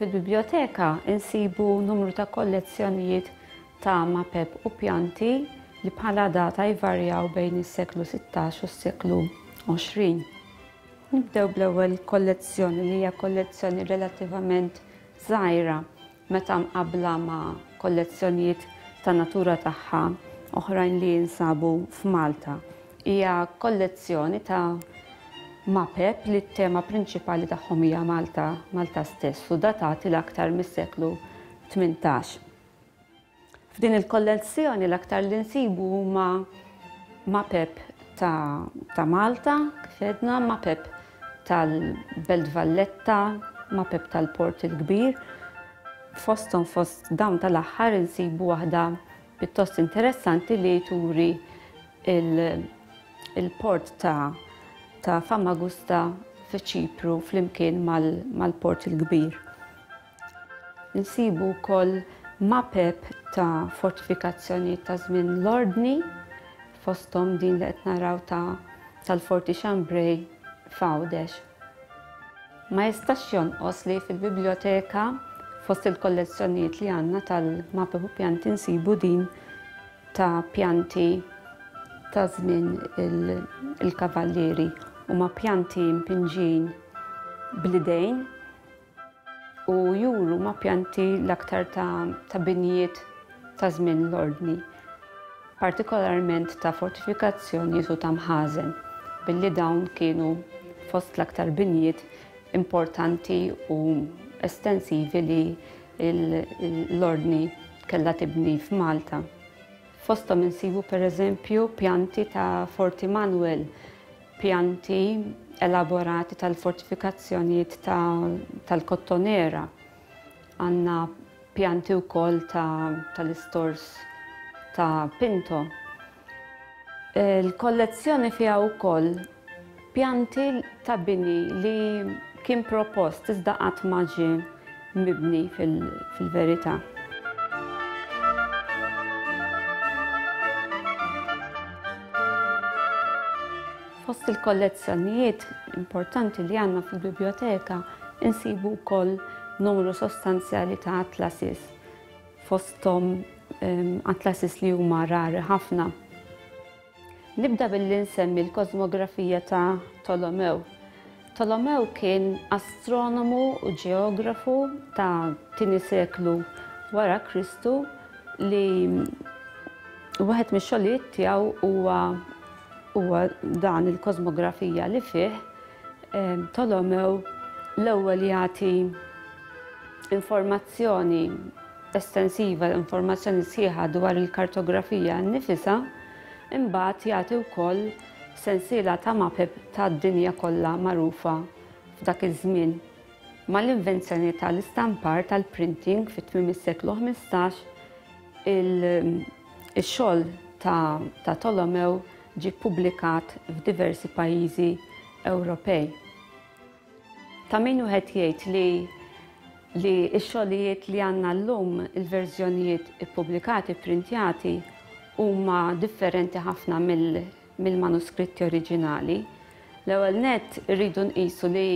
Fil-biblioteka insibu numru ta' kollezzjonijiet ta' mapep u pjanti li bħala data jvarjaw bejn is-seklu 16 u s-seklu 20. Nibdew bl-ewwel kollezzjoni li hija kollezzjoni relattivament żgħira meta mqabbla ma' kollezzjonijiet ta' natura tagħha oħrajn li jinsabu f'Malta. Hija kollezzjoni ta' mapep li t-tema prinċipali tagħhom hija Malta, Malta stess u datati l-aktar mis-seklu tmintax. F'din il-kollezzjoni l-aktar li nsibu huma mapep ta', ta Malta, kif edna, mapep tal-Belt Valletta, mapep tal-Port il-Kbir. Fosthom fost dawn tal-aħħar insibu waħda pjuttost interessanti li turi il-port ta' ta' Famagusta fiċ-Ċipru flimkien mal-Port il-Kbir. Insibu wkoll mapep ta' fortifikazzjonijiet ta' żmien l-Ordni, fosthom din li qed naraw ta' tal-Forti Chambray f'Għawdex. Ma jistax jonqos li fil-Bibljoteka, fost il-kollezzjonijiet li għandna tal-mapep u pjanti nsibu din ta' pjanti ta' żmien il-Kavallieri. Huma pjanti mpinġin bl-idejn, u juru ma' pjanti l-aktar ta' binjiet ta' żmien l-Ordni, partikolarment ta' fortifikazzjonijiet u ta' mħażen, billi dawn kienu fost l-aktar binjiet importanti u estensivi li l-Ordni kellha tibni f'Malta. Fosthom insibu pereżempju pjanti ta' Forti Manwel, pjanti elaborati tal-fortifikazzjonijiet tal-Kottonera. Għandna pjanti wkoll tal-istors ta' Pinto. Il-kollezzjoni fiha wkoll pjanti ta' bini li kien propost iżda qatt ma ġie mibni fil-verità. Fost il-kollezzjonijiet importanti li għandna fil-biblioteka insibu wkoll numru sostanzjali ta' atlasis, fosthom ehm, atlasis li huma rari ħafna. Nibda billi nsemmi l-kosmografija ta' Tolomew. Tolomew kien astronomu u ġeografu ta' tieni seklu wara Kristu li wieħed mix-xogħlijiet tiegħu huwa huwa dan il-kosmografija li fih Tolomew l-ewwel jagħti informazzjoni estensiva l-informazzjoni sħiħa dwar il-kartografija nnifisha, imbagħad jagħti wkoll sensiela ta' mapep tad-dinja kollha magħrufa f'dak iż-żmien. Mal-invenzjoni tal-istampar tal-printing fi tmiem is-seklu ħmistax, ix-xogħol ta' ta' Tolomew ġie ppubblikat f'diversi pajjiżi Ewropej. Ta' min wieħed jgħid li li x-xogħlijiet li għandna llum, il-verżjonijiet ippubblikati, pprintjati, huma differenti ħafna mill-manuskritti oriġinali. L-ewwel nett irridu nqisu li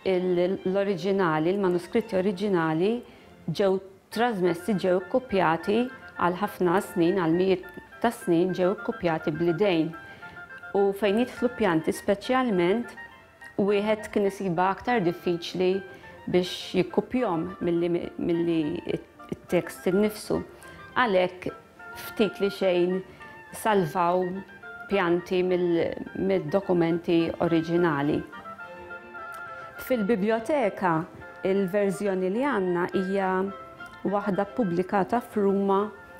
l-oriġinali, l-manuskritti oriġinali ġew trasmessi, ġew ikkupjati għal ħafna snin, għal mijiet ta' snin ġew ikkupjati bl-idejn. U fejn jidħlu pjanti speċjalment Wieħed kien isibha aktar diffiċli biex jikkupjhom milli t-tekst innifsu. Għalhekk ftit li xejn salvaw pjanti mid-dokumenti oriġinali. Fil-bibljoteka, il-verżjoni li għandna hija waħda ppubblikata f'Ruma